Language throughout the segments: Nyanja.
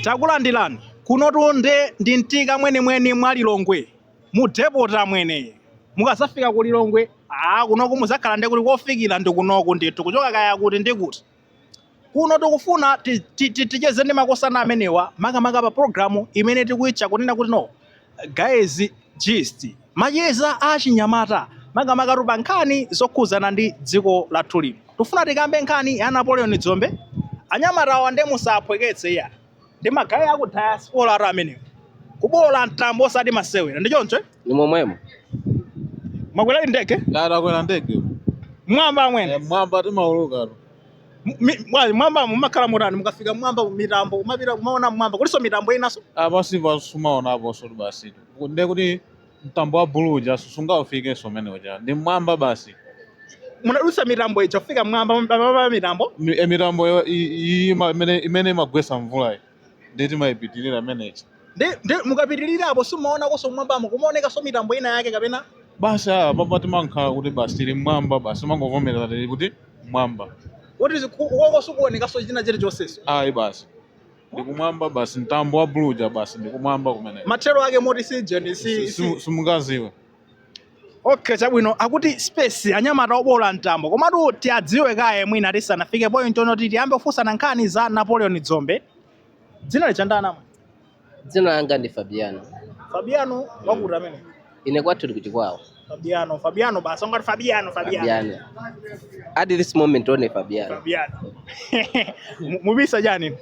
Takulandilani kunotu nde ndi mtika mwenimweni mwa Lilongwe mu depoti amwene. Mukazafika ku Lilongwe aa kunoku muzakhala nde kuti kofikila ndi kunoku ndithu kuchoka kaya kuti ndi kuti. Kuno tikufuna ti- ti- ti- ticheze ndi makosana amenewa makamaka pa programu imene tikuitcha kunena kuti no Guys gist macheza a chinyamata makamaka pa nkhani zokhudzana ndi dziko lathu lino tifuna tikambe nkhani ya Napoleon Dzombe anyamatawa ndiye musaphweketse iya ndi magayi aku diasporatu amenewa kuboola mtambo osati masewera ndi choncho eh? ndi momwemo mwakwera ndege Dada kwera ndege mwamba amwene mwamba timaulukatu M- mi- bwanji mwamba mumakhala motani mukafika mwamba mitambo kumapita kumaona mwamba kulinso mitambo inanso basi basi sumaonaponso ti basi nde kuti mtambo wa bulu uja sungaufikenso umene uja ndi mmwamba basi munadutsa mitambo ija kufika mwamba mwamba mitambo Mi- e mitambo yo- i- i- ima- imene imene imagwesa mvulayi Ndiye timaipitirira imene ija. Nde, nde mukapitirira apo simumaonakonso kumwambamo kumaonekanso mitambo ina yake kapena Basi ah, papa timakhala kuti basi tili mmwamba basi timangovomereza tili kuti mmwamba. kuti ziku- koko sikuonekanso china chilichonseso Ayi basi. Ndikumwamba basi mtambo wa bulu uja basi ndikumwamba kumene. mathero ake moti sijani si, si, Simungaziwe. Okay, chabwino akuti space anyamata oboola mtambo komatu tiadziwe kaye mwina tisanafike point yonoti ti tiyambe kufunsana nkhani za Napoleon Dzombe dzina lija ndani amwene dzina langa ndi Fabiano Fabiano wakuti amwene ine kwathu tikuti kwawo Fabiano Fabiano basi ngati Fabiano Fabiano Fabiano at this moment only Fabiano Fabiano mubisa chani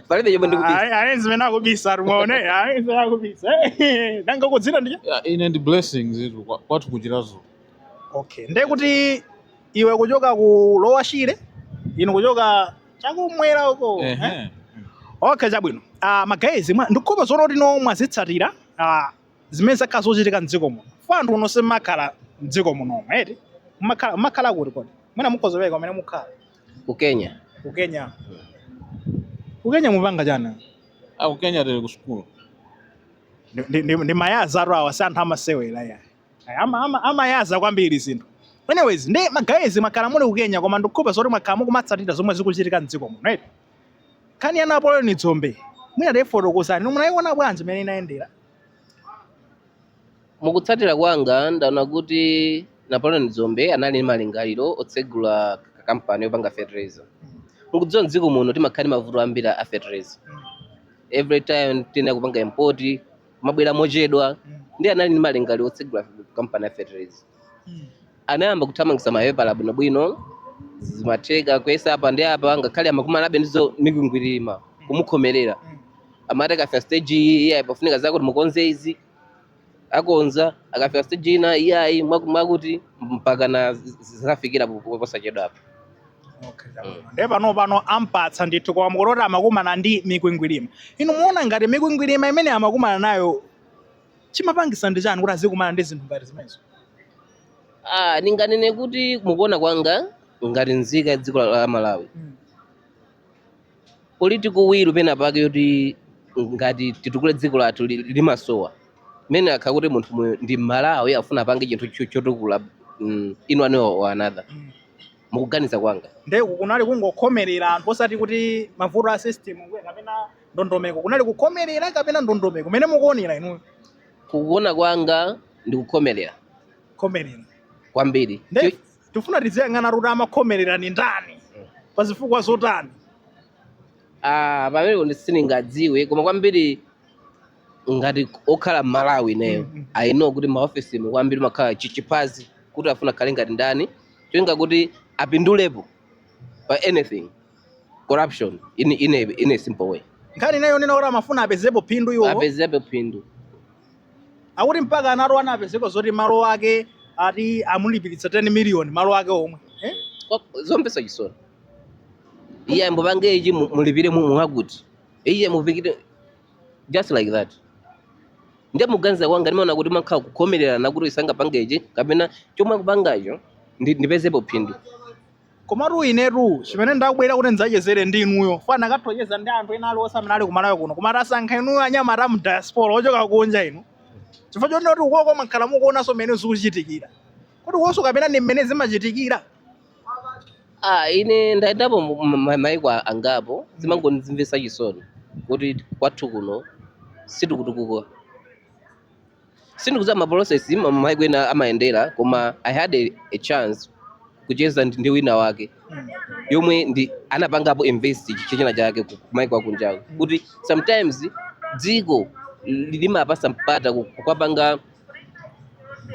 palibe chomwe ndikubisa Ayi, ayi, zimene akubisa alimo mwaona ayi, zimene akubisa Eh, nanga inu dzina ndiye Ya, ine ndi blessings itu kwa- kwathu ku Chiradzulu okay ndiye kuti iwe kuchoka ku Lower Shire inu kuchoka chakumwera uko eh? Ehe. okay chabwino uh, magayizi ndikukhulupa zoona kuti no mwazitsatira uh, zimene zakhala zochitika mdziko muno though anthu inu simukhala mdziko munomo eti Mumakhala- mumakhala kuti kodi mwina mukhoza peka kumene mukhala ku kenya ku kenya ku kenya mupanga chani aku kenya tili ku sukulu Ndi- ndi- ndi- ndi mayazatu awa si anthu amasewera ya Ama- ama- amayaza kwambiri zinthu anyways nde magayizi mwakhala muli ku kenya koma ndikukhulupa zoti mwakhala mukumatsatira zomwe zikuchitika mdziko muno right nkhani ya Napoleon Dzombe mwina tifotokozani munayiona bwanji mmene inayendera Mukutsatira kwanga, ndaona kuti Napoleon Dzombe anali ndi malingaliro otsegula kampani yopanga fertilizer. Mukudziwa mdziko muno timakhala ndi mavuto ambiri a fertilizer. Every time tiyenera kupanga import, kumabwera mochedwa. Ndiye anali ndi malingaliro otsegula kampani ya fertilizer. Anayamba kuthamangitsa mapepala bwinobwino, zimatheka kuyesa apa ndi apa, ngakhale amakumanabe ndi zomikwingwirima, kumukhomerera. Amati akafika stage iyi, iyayi pafunika zakuti mukonze izi. akonza akafika stage ina iyayi mwaku- mwakuti mpaka na z- z- zafikira po- po- posachedwapa e pano pano ampatsa ndithu koma munkuti amakumana ndi mikwingwirima inu mukuona ngati mikwingwirima imene amakumana nayo chimapangisa ndi chani kuti azikumana ndi zinthu ngati zimenezo Ah, ndinganene kuti mukuona kwanga ngati nzika ya dziko la la malawi political will pena pake yoti ngati titukule dziko lathu li- limasowa mmene akhala kuti munthu uyu ndi mmalawi afuna apange chinthu cho- chotukula mm, in one way or another mukuganiza kwanga nde kunali kungokhomerera anthu osati kuti mavuto a system kuya kapena ndondomeko kunali kukhomerera kapena ndondomeko mmene mukuonera inu kukuona kwanga ndikukhomerera khomerera kwambiri Nde- Chi- tifuna tiziyang'ana kuti amakhomerera ni ndani pa zifukwa zotani Ah, pamenepo ndi sindingadziwe koma kwambiri ngati okhala mmalawi ineyo Mhm. I know kuti m'maofesi umo kwambiri mumakhala chiphuphu kuti afuna akhale ngati ndani cholinga kuti apindulepo pa anything corruption in, in, a, in a simple way nkhani inayo yonena kuti amafuna apezepo phindu iwo apezepo phindu akuti mpaka anati anapezeka zoti malo ake ati amulipiritsa 10 million malo ake omwe eh? Kwa- zomvesa chisoni iye n'kupanga ichi mu- mulipire mu- mwakuti iye mufikire just like that nde mukuganiza kwanga ndimaona kuti mumakhala kukhomererana kuti asangopanga ichi kapena chomwe akupangacho ndi- ndipezepo phindu Komatu inetu chimene ndabwerera kuti ndidzachezere ndi inuyo chifukwa n'nakatha kucheza ndi anthu ena aliwonse amene ali ku Malawi kuno koma tasankha inuyo anyamata mu diaspora ochoka kunja inu chifukwa chonena kuti ukoko mwakhala mukuonanso mmene zikuchitikira kodi ukonso kapena ndi mmene zimachitikira Ah, ine ndayendapo mu- mu- ma- maiko a- angapo zimangondizimvesa chisoni kuti kwathu kuno sitikutukuka sindikudziwa ma process mmene maiko ena amayendera koma i had a, a chance kucheza ndi ndi wina wake yomwe ndi anapangapo invest chi- china chake ku- kumaiko akunjawo kuti sometimes dziko li- limapasa mpata ku- kukapanga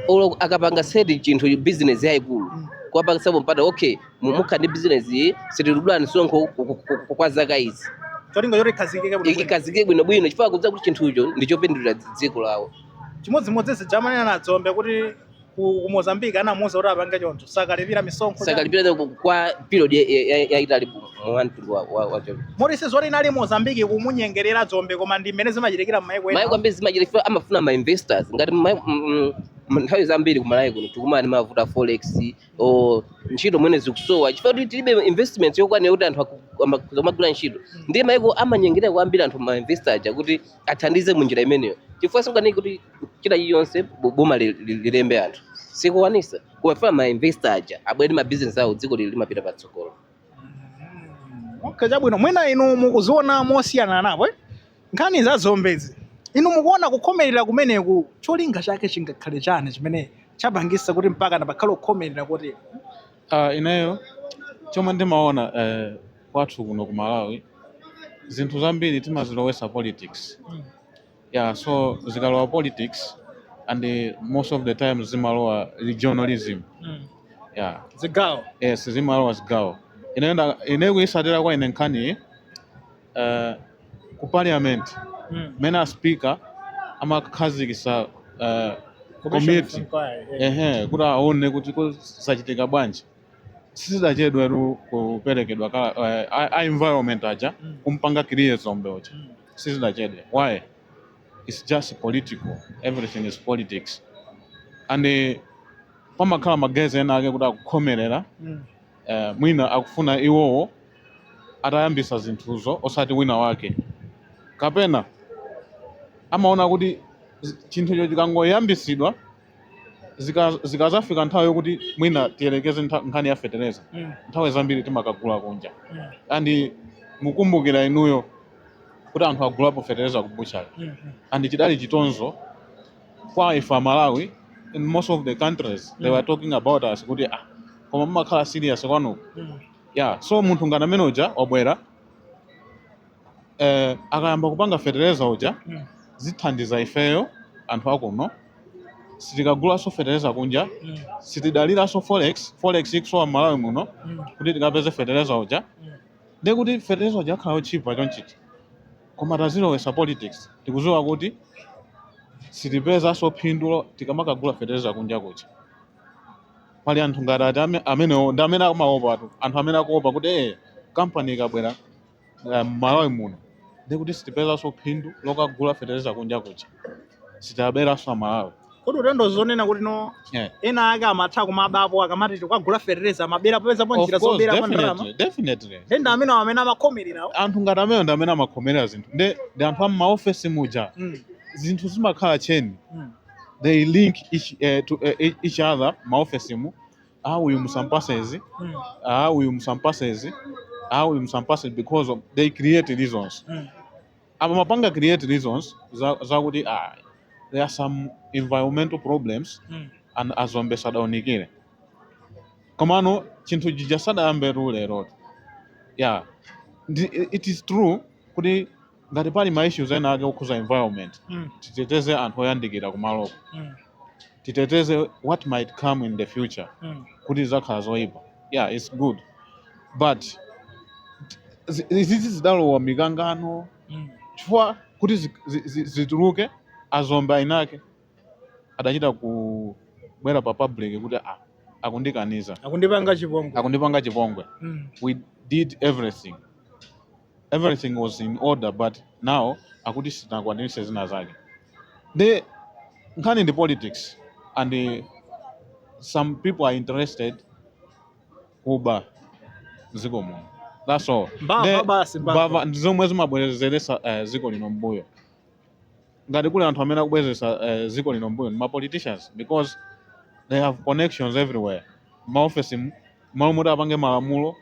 olo akapanga set chinthu business yayikulu kuwapangitsapo mpata okay mu- mukhala ndi business iyi sitidula misonkho ku- ku- ku- kwa zaka izi cholinga choti ikhazikike kuti ikhazikike bwinobwino chifukwa akudziwa kuti chinthucho ndi chopindulira dzi- dziko lawo chimodzimodzi zija amanena a dzombe kuti ku ku mozambique anamuuza kuti apange choncho sakalipira misonkho chani. sakalipira ku- kwa period ya- ya- ya- yaitali mwa mtundu wa- wa- wacho moti sizoti inali mozambique kumunyengerera dzombe koma ndi mmene zimachitikira m'maiko ena maiko ambiri zimachitika chifukwa amafuna ma investors ngati mai- mm, mm, nthawi zambiri kumalawi kuno tikumana ndi mavuto a forex o ntchito mwene zikusowa chifukwa kuti tilibe investment yokwanira kuti anthu aku- ama- akamagwira ntchito ndiye maiko amanyengerera kwambiri anthu ma investor aja kuti athandize mu njira imeneyo chifukwa sikukaniki kuti china chilichonse bo- boma li- li- lilembe anthu sikukwanisa kumafuna ma investor aja abwere ndi ma business awo dziko lili limapita patsogolo okay chabwino mwina inu mukuziona mosiyana napo eh? nkhani za dzombezi. Inu mukuona kukhomelera kumeneku cholinga chake chingakhale chani chimene chapangisa kuti mpaka pakhale kukhomelera kotere? Ah, ineyo chomwe ndimaona eh, kwathu kuno ku Malawi zinthu zambiri timazilowesa politics yeah, so zikalowa politics and eh, most of the time zimalowa regionalism yeah. Zigawo. yes zimalowa zigawo ineyo nda- ineyo kuyisatira kwa ine nkhaniyi uh, ku parliament mm. mmene a speaker amakhazikisa uh, komiti ehe kuti aone kuti kuzachitika bwanji sizidachedwetu kuperekedwa ka uh, a environment aja mm. kumpanga clear dzombe uja mm. sizidachedwe why it's just political everything is politics and uh, pamakhala ma guys ena ake kuti akukhomerera mm. eh, mwina akufuna iwowo atayambisa zinthuzo osati wina wake kapena amaona kuti zi- chinthucho chikangoyambisidwa zika- zikazafika nthawi yokuti mwina tiyerekeze ntha- nkhani ya fetereza Mm. nthawi zambiri timakagula kunja Mm. and mukumbukira inuyo kuti anthu agulapo fetereza ku butchery Mm. and chidali chitonzo kwa ife amalawi in most of the countries they were talking about us kuti ah koma mumakhala serious kwanuko yeah so munthu ngati amene uja wabwera eh, akayamba kupanga fetereza uja zithandiza ifeyo anthu akuno sitikagulanso fetereza kunja sitidaliranso forex forex ikusowa m'malawi muno kuti tikapeze fetereza uja ndekuti fetereza uja akhala otchipa chonchichi Koma tazilowesa politics tikuziwa kuti sitipezanso phindu tikamakagula fetereza kunja kuja. Pali anthu ngati a- a- ame- amenewo ndi amene amaopatu anthu amene akuopa kuti ee kampani ikabwera eh, m'Malawi muno ndikuti sitipezanso phindu lokagula fetereza kunja kuja. sitiyaberanso amalawi kodi utendo zonena kuti no Yeah. ena ake amatha kumabapo akamati tikagula fertilizer amabera popezapo Of njira course, zobera pa ndalama definitely, definitely. ndi ndi amene amene amakhomererawo anthu ngati amene ndi amene amakhomerera zinthu ndi ndi anthu a m'maofesi muja Mm, zinthu zimakhala cheni mm. they link each, eh, to, eh, each- each other maofesi mu ah uyu musampasa izi Mm, ah uyu musampasa izi ah uyu musampasa izi because of, they create reasons mm. amapanga create reasons za- zakuti ah, there are some environmental problems Mm. and a Dzombe sadaunikire komano chinthu chija sadayambe tu lero yeah Ndi- it is true kuti ngati pali ma issues ena ake okhuza environment Mm. titeteze anthu oyandikira kumaloko Mm. titeteze what might come in the future Mm. kuti zisakhale zoyipa yeah it's good but zi- izizi zidalowa mikangano Mm. chifukwa kuti zi- zi- zi- zituluke a Dzombe inake adachita kubwera pa public kuti ah, akundikaniza akundipanga chipongwe akundipanga chipongwe Mm. we did everything everything was in order but now akuti sitinakwanirise zina zake nde nkhani ndi politics and eh, some people are interested kuba mdziko muno that's all mbava Nde- basi mbava mbava ndi zomwe zimabwezeretsa eh, dziko lino mbuyo ngati kuli anthu amene akubwezeretsa eh, dziko lino mbuyo ndi ma politicians because they have connections everywhere maofesi mu mmalo moti apange malamulo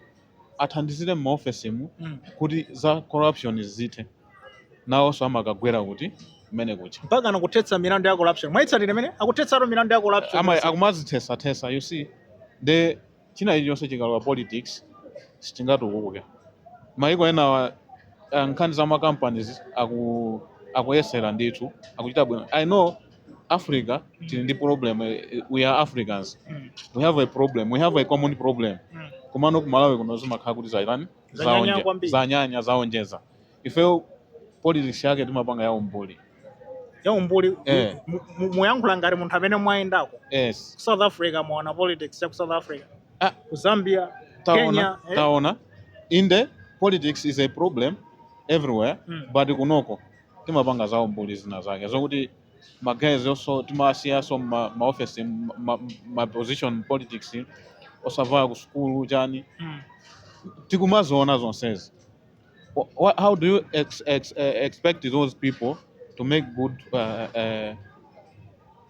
athandizire maofesi mu Mm. kuti za corruption zithe nawonso amakagwera kuti kumeneko cha mpaka nakuthetsa milandu ya corruption mwaitsatira mmene akuthetsatu milandu ya corruption Ama- akumazithesa-thesa you see nde chinthu chilichonse chikalowa politics sichingatukuke maiko enawa eh, nkhani za makampanies aku, akuyesera ndithu akuchita bwino i know africa tili ndi problem eh, we are africans Mm, we have a problem we have a common problem mm. komano kumalawi kuno zimakhala kuti zaitani Zanyanya zaonje- kwambiri. zanyanya zaonjeza ifeyo politics yake timapanga ya umbuli ya umbuli Eh. mu- mu- mukuyankhula ngati munthu amene mwayendako yes ku south africa mwaona politics ya ku south africa Ah. ku zambia taona Kenya, eh. taona inde politics is a problem everywhere Mm. but kunoko timapanga za umbuli zina zake zokuti ma guys also timawasiyiraso ma, ma office ma, ma, ma position politics osavaya ku sukulu chani mm. tikumaziona zonsezi what, how do you ex, ex, uh, expect those people to make good uh, uh,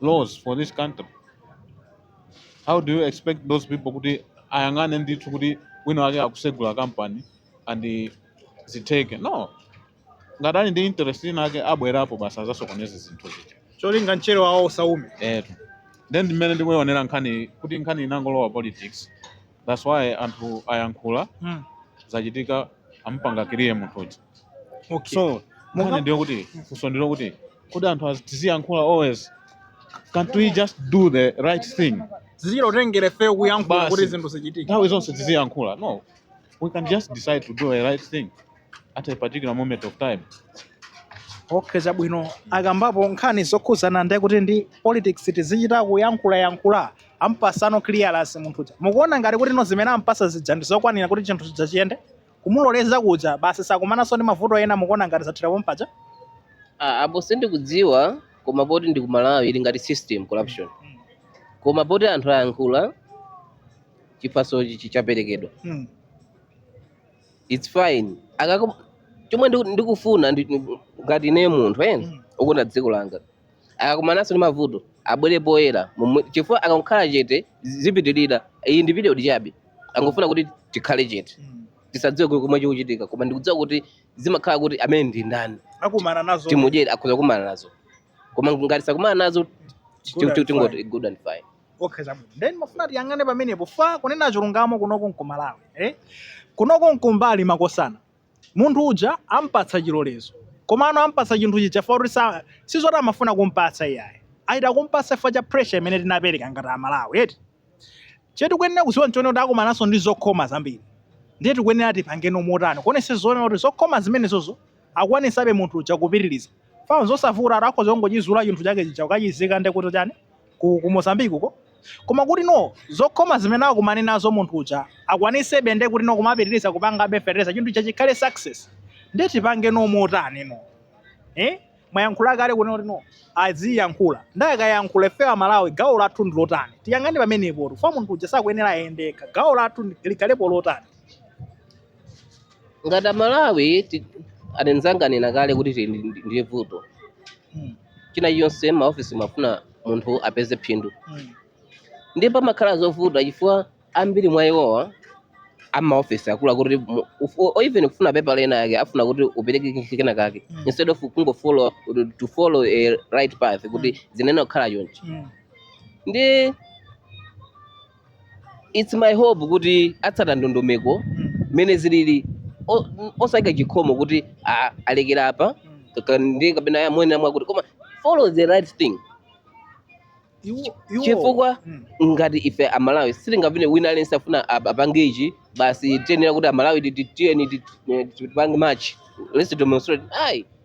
laws for this country how do you expect those people kuti ayang'ane ndithu kuti wina wake akusegula company and zitheke no ngati ali ndi interest inaake abwerapo basi azasokoneza zinthu zija cholinga mchere wawo usaume etu then mmene ndikuionera nkhani kuti nkhani inangolowa politics that's why anthu ayankhula mm. zachitika ampanga kiliya munthu uja okay. so Monga- nkhani ndiyo kuti funso ndilo kuti kodi anthu az- tiziyankhula always can't we just do the right thing zizichita kutengera ifeyo kuyankhula Basi. kuti zinthu zichitike nthawi zonse tiziyankhula no we can just decide to do the right thing at a particular moment of time okay chabwino akambapo nkhani zokhuzana ndi kuti ndi politics tizichita kuyankhula yankhula ampasano clearance munthu uja mukuona ngati kuti no zimene ampasa zija ndi zokwanira kuti chinthu chija chiyende kumuloleza kuja basi sakumananso ndi mavuto ena mukuona ngati zathera pompaja Ah, apo sindikudziwa koma poti ndi ku malawi ili ngati system corruption koma poti anthu ayankhula chiphasochi chichaperekedwa mm. it's fine akakum chomwe ndiku- ndikufuna ndi- ndi- ngati ine munthu Mm. okonda dziko langa akakumananso ndi mavuto abwere poyera momwe- chifukwa akakhala chete zipitirira iyi ndi video chabe angofuna kuti tikhale chete Mm. tisadziwe chomwe chikuchitika koma ndikudziwa kuti zimakhala kuti amene ndi ndani akumana nazo timudyere akhoza kumana nazo koma ngati sakumana nazo ti- Good ti- and tingoti fine. good and fine okay chabwino then mmafuna tiyang'ane pamenepo fa kunena chilungamo kunoko nkumalawi eh? kunoko nkumbali makosana munthu uja ampatsa chilolezo komano ampatsa chinthu chija fa kuti sa- si zoti amafuna kumpatsa iyayi achita kumpatsa fa cha pressure imene tinapereka ngati amalawi eti chetikuyenera kuziwa nchone kuti akumananso ndi zokhoma zambiri ndiye tikuyenera tipangeno motani kuonesetsa kuti zokhoma zimenezozo akwanisebe munthu uja kupitiliza fa nzosavuta eti akhoza kungochizula chinthu chake chija kukachizika nde kuti chani ku, ku mozambique uko koma kuti no zokhoma zimene akumane nazo munthu uja akwanisebe nde kuti no kumapitiliza kupangabe fertilizer chinthu chija chikhale success nde tipangeno motani no eh mwayankhula kale kunena kuti no aziyankhula nde akayankhula ife amalawi gawo lathu ndi lotani tiyang'ane pamenepo tu fa munthu uja sakuyenera ayende yekha gawo lathu ndi- likhalepo lotani ngati amalawi ti- anzanga anena kale kuti tili ndi- ndiye vuto chinachilichonse maofisi amafuna munthu apeze phindu ndiye pamakhala zovuta chifukwa ambiri mwa iwowa amaofisi akula kuti mu- ufu- or even kufuna pepala linalake afuna kuti upereke kinki kenakake Mm. instead of kungofollow to follow a right path kuti zinayenera kukhala chonchi ndi it's my hope kuti atsata ndondomeko mmene zilili O- n- osayika chikhomo kuti ah, alekera apa kaka- ndi kapena ya mwene mwakuti koma follow the right thing Iwo- iwo- chifukwa Mm. ngati ife amalawi sitingapine wina aliyense afuna ap- apange ichi basi tiyenera kuti amalawi ti- ti- tiyeni ti- eh, tipange march let's demonstrate ayi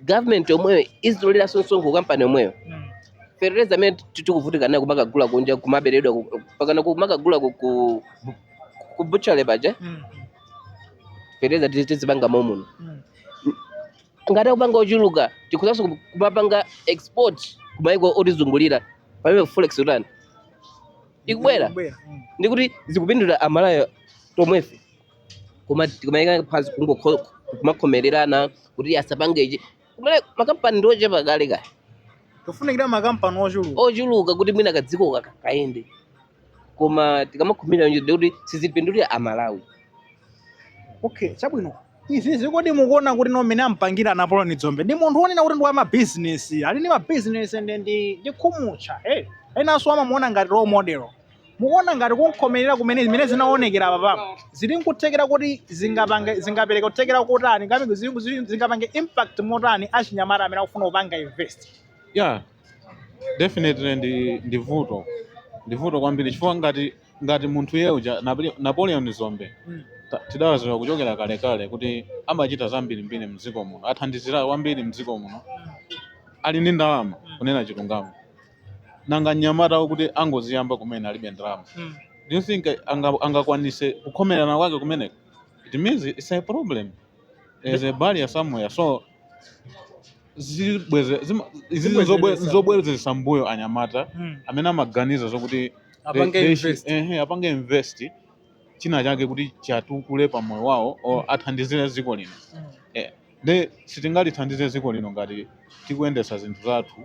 government yomweyo izitoleranso msonkho kampani yomweyo Mm. fertilizer amene ti- tikuvutika nayo kumakagula kunja kumaberedwa ku- pakana kumakagula ku- ku ku butchery paja Mm. fertilizer tizi- tizipanga momuno Mm. ngati akupanga ochuluka tikhozaso kumapanga export kumayiko otizungulira pamene forex itani ikubwera Ikubwera. Mm. ndikuti zikupindula amalawi tomwefe kuma- kumayika phanzi kungokho- kumakhomererana kuti asapange ichi kumene makampani ndiochepa kale kale tifunikira makampani ochuluka ochuluka kuti mwina kadziko kaka kayende koma tikamakhomera nje kuti sizipindulira amalawi okay chabwino izizi kodi mukuona kuti ndi mmene ampangira a Napoleon Dzombe ndi munthu wonena kuti ndi wa mabizinesi ali ndi mabizinesi ndi ndi ndi khumutcha hey enanso amamuona ngati role model Mukuona ngati kumkhomerera kumene zimene zinaonekera apa papa zili nkuthekera kuti zingapange zingapereka kuthekera kotani ngati zili- zili- zingapange impact motani kwa achinyamata amene akufuna kupanga invest yeah definitely ndi ndi vuto ndi vuto kwambiri chifukwa ngati ngati munthu iye uja Napole- Napoleon Dzombe Mm. ta- tidawaziwa kuchokera kalekale kuti amachita zambirimbiri mdziko muno athandizira kwambiri mdziko muno ali ndi ndalama kunena chilungamo nanga mnyamata wakuti angoziyamba kumene alibe ndalama Mm. do you think anga- angakwanise kukhomerana kwake kumeneko it means it's a problem there's a barrier somewhere so zibweze- zima- izi nzobwe- Zibwezeretsa. nzobwerezesa mbuyo anyamata Mm. amene amaganiza zokuti Apange they- they should- invest. ehe, apange invest china chake kuti chatukule pa moyo wawo or athandizire dziko lino Mm. Eh, Nde sitingalithandize dziko lino ngati tikuyendetsa zinthu zathu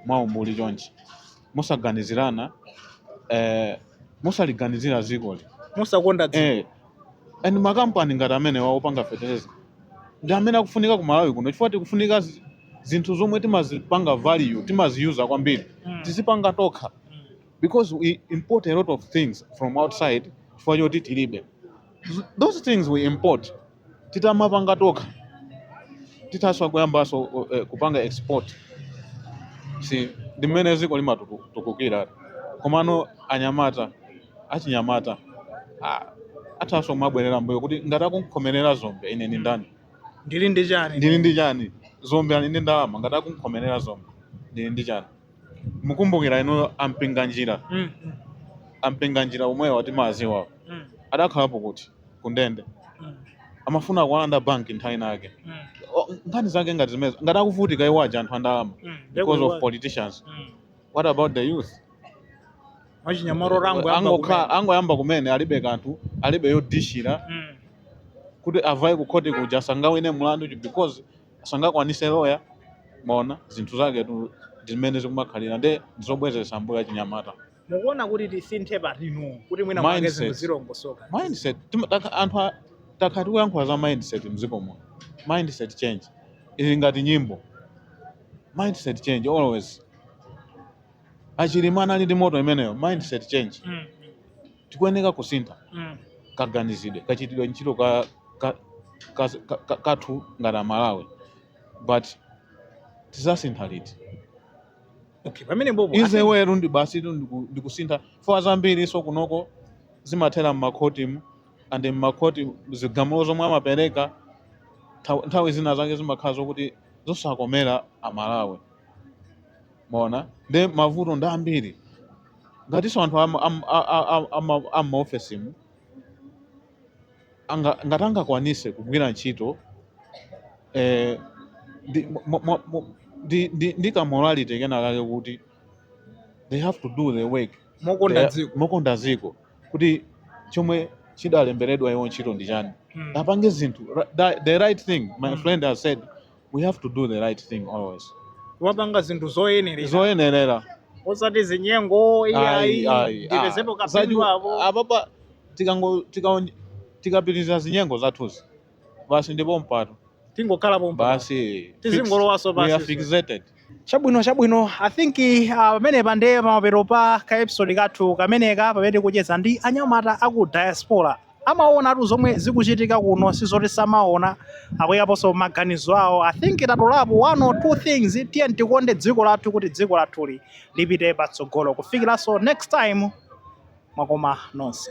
mwa umbuli chonchi. Mosaganizirana eeh mosaliganizira dzikoli. Mosakonda dziko. Eeh and ma company ngati amenewa opanga fetereza ndi amene akufunika ku Malawi kuno chifukwa tikufunika zinthu zomwe timazipanga value, timaziyuza kwambiri tizipanga tokha because we import a lot of things from outside chifukwa choti tilibe those things we import. Titamapanga tokha, tithanso kuyambaso kupanga export si ndi mmene dziko limatutukukira komano anyamata achinyamata athaso kumabwerera mbuyo kuti ngati akumkhomerera dzombe ine ndi ndani? Ndili ndi chani? Dzombe ali ndi ndalama ngati akumkhomerera dzombe ndili ndi chani? Mukumbukira inuyo a Mpinganjira, a Mpinganjira omwewa timawadziwa adakhalapo kuti? ku ndende mm. amafuna kuwalanda banki nthawi inayake mm. nkhani zake ngati zimenezo ngati akuvutika iwo aja anthu andalama mm. because of politicians mm. what about the youth angoyamba kumene alibe kanthu alibe yodishira mm. kuti avaye kukhoti kuja sangawine mlandu because sangakwanise loya maona zinthu zake tu zimene zikumakhalira nde ndizobwezesa mbuyo achinyamata mukuona kuti tisinthe patino kuti mwina mwake Mindset. zinthu zilongosoke mindset Tima- taka- anthu a- takhala tikuyankhula za mindset mdziko muno mindset change ili ngati nyimbo mindset change always a Chilima anali ndi moto imeneyo mindset change Mm, tikuyeneka kusintha mm, kaganizidwe kachitidwe ntchito ka, ka, ka, ka, ka, kathu ngati amalawi but tizasintha liti okay pamene bobo is well ndi basi tu ndiku- ndikusintha fo zambiri so kunoko zimathera mmakhotimu ande mmakhoti zigamulo zomwe amapereka nthaw- nthawi zina zake zimakhala zokuti zosakomera amalawi maona nde mavuto ndi ambiri ngatinso anthu am- am- a- a- a- ama- ammaofesimu anga, ngati angakwanise kugwira ntchito eh, ndi, mo, mo, mo, ndi, ndi, ndi ka morality kena kake kuti they have to do the work mokonda They- dziko mokonda dziko kuti chomwe chidalemberedwa iwo ntchito ndi chani Mm. apange zinthu ra- the- the right thing my Mm. friend has said we have to do the right thing always kumapanga zinthu zoyenerera zoyenerera osati zinyengo Ayi, iyayi ayi, ndipezepo ah. kapindu Zaju- apo apapa tikango- tikaon- tikapitiriza zinyengo zathuzi basi ndi pompa tu tingokhala pompa basi Tizingolowa so fix- we are basi. fixated Chabwino chabwino I think uh, pamenepa ndiye pamapeto pa ka episode kathu kameneka pamene tikucheza ndi anyamata aku diaspora amaonatu zomwe zikuchitika kuno sizoti samaona akuyikaponso maganizo awo i think tatolapo one or two things tiyeni tikonde dziko lathu kuti dziko lathuli lipite patsogolo kufikiranso next time mwakoma nonse